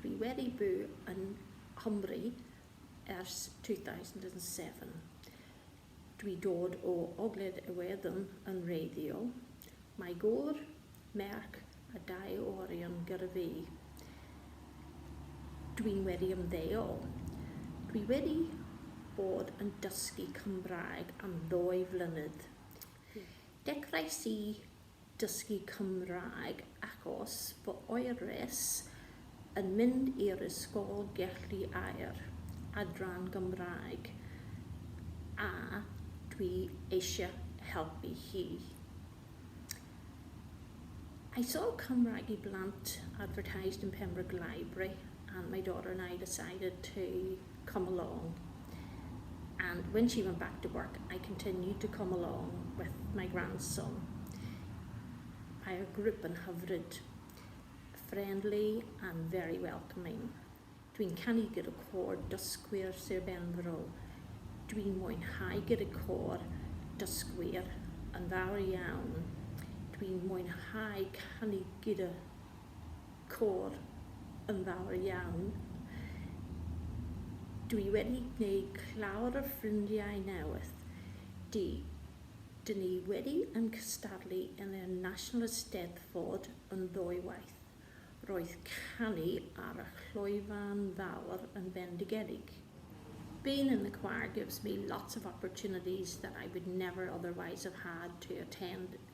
Dwi wedi byw yn Nghymru ers 2007. Dwi dod o Ogledd Iwerddon yn wreiddiol. Mae gŵr, merch a dau o orion gyda fi. Dwi'n wedi ymddeol. Dwi wedi bod yn dysgu Cymraeg am ddwy flynedd. Dechreuais i dysgu Cymraeg ac os fy oeris yn mynd i'r ysgol gellu air adran Gymraeg a dwi eisiau helpu hi. I saw Cymraeg i Blant advertised in Pembroke Library and my daughter and I decided to come along and when she went back to work I continued to come along with my grandson. I group yn hyfryd, friendly and very welcoming. Dwi'n canu gyda côr dysgwyr Sir Benfro. Dwi'n mwynhau gyda côr dysgwyr yn fawr iawn. Dwi'n mwynhau canu gyda côr yn fawr iawn. Dw i wedi gwneud llawer o ffrindiau newydd. Dw i, dyn ni wedi yn cystadlu yn y National Eisteddfod yn ddwywaith. Roedd canu ar y llwyfan fawr yn fendigedig. Being in the choir gives me lots of opportunities that I would never otherwise have had to attend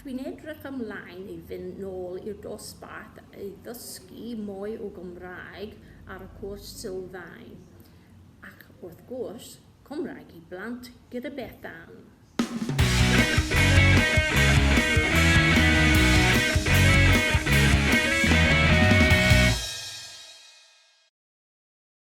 Dwi'n edrych ymlaen i fynd nôl i'r dosbarth i ddysgu mwy o Gymraeg ar y cwrs sylfaen, ac wrth gwrs, Cymraeg i blant gyda Beth Ann.